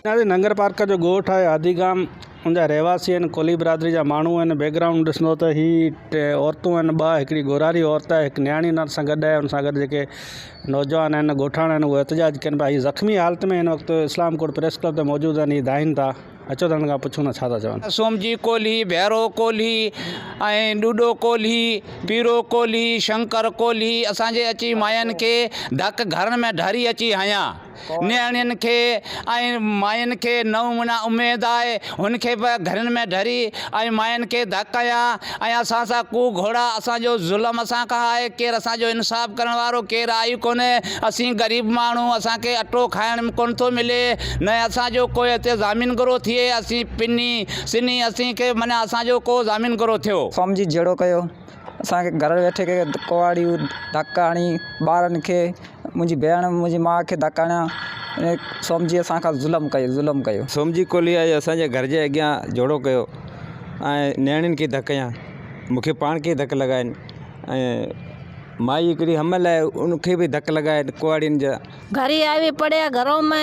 جي ننگر پارڪر جو ڳوٺ آهي هادي گام ان جا رهواسي آهن ڪولهي برادري جا ماڻهو آهن بيڪ گرائونڊ ڏسندو ته هي ٽي عورتون آهن ٻه هڪڙي ڳورهاري عورت آهي هڪ نياڻي ان سان گڏ آهي ان سان گڏ جيڪي نوجوان آهن ڳوٺاڻا آهن اهي احتجاج ڪن پيا هي زخمي حالت ۾ هن وقت اسلام ڪوٽ پريس ڪلب تي موجود آهن هي دانهين ٿا اچو ته هنن کان پڇون ته ڇا ٿا چون. سومجي ڪولهي، ڀيرو ڪولهي ۽ ڏوڏو ڪولهي، پيرو ڪولهي، شنڪر ڪولهي اسان جي اچي ماين کي ڌڪ گهرن ۾ ڍاري اچي هنيا. نياڻين کي ۽ ماين کي نو مھينا اميد آهي، هن کي به گهرين ۾ ڍري ۽ ماين کي ڌڪ هنيا. ۽ اسان سان ڪو گهوڙا اسان جو ظلم اسان کان آهي ڪير اسان جو انصاف ڪرڻ وارو ڪير آهي ئي ڪونهي اسين غريب ماڻهو اسان کي اٽو کائڻ ڪونه ٿو ملي نه اسان جو ڪو هتي ضامن گرو ٿئي اسين پني سني اسين کي معنيٰ اسان جو ڪو ضامن گرو ٿيو. قوم جي جهيڙو ڪيو اسان کي گهر ويٺي ڪي ڪوئاڙيون ڌڪ هڻي ٻارن کي منهنجي ڀيڻ منهنجي ماء کي ڌڪ هڻيا. سومجي اسان کان ظلم ڪيو، ظلم ڪيو. سومجي ڪولهي آيو اسان جي گهر جي اڳيان جهوڙو ڪيو ۽ نياڻين کي ڌڪ هنيا. مون کي پاڻ کي ڌڪ لڳا آهن ۽ مائي هڪڙي حمل آهي ان کي به ڌڪ لڳا آهن ڪهاڙين جا. گهري آوي پڙهيا گهرو ۾.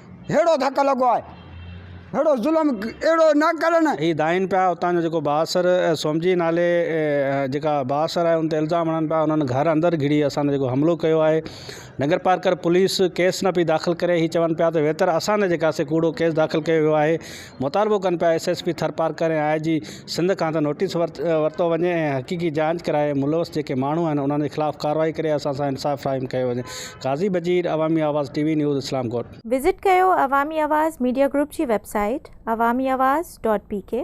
ههڙو ڌڪ لڳو آهي، ههڙو ظلم اهڙو نه ڪرن. هي دانهين پيا اتان جو جيڪو بااثر سومجي نالي جيڪا بااثر آهي ان تي الزام هڻن پيا انهن گهر اندر گهڙي اسان تي جيڪو حملو ڪيو آهي نگرپارڪر پوليس ڪيس نه پئي داخل ڪري هي چون پيا ته ويتر اسان تي جيڪاسي ڪوڙو ڪيس داخل ڪيو ويو آهي مطالبو ڪن پيا S S P Tharparkar ۽ I G Sindh کان ته نوٽيس ورتو وڃي ۽ حقيقي جاچ ڪرائي ملوث جيڪي ماڻهو آهن انهن جي خلاف ڪارروائي ڪري اسان سان انصاف فراهم ڪيو وڃي قاضي Bajeer Awami Awaz T V news Islamkot. Visit ڪيو عوامي آواز ميڊيا گروپ جي website Awami Awaz dot P ڪي.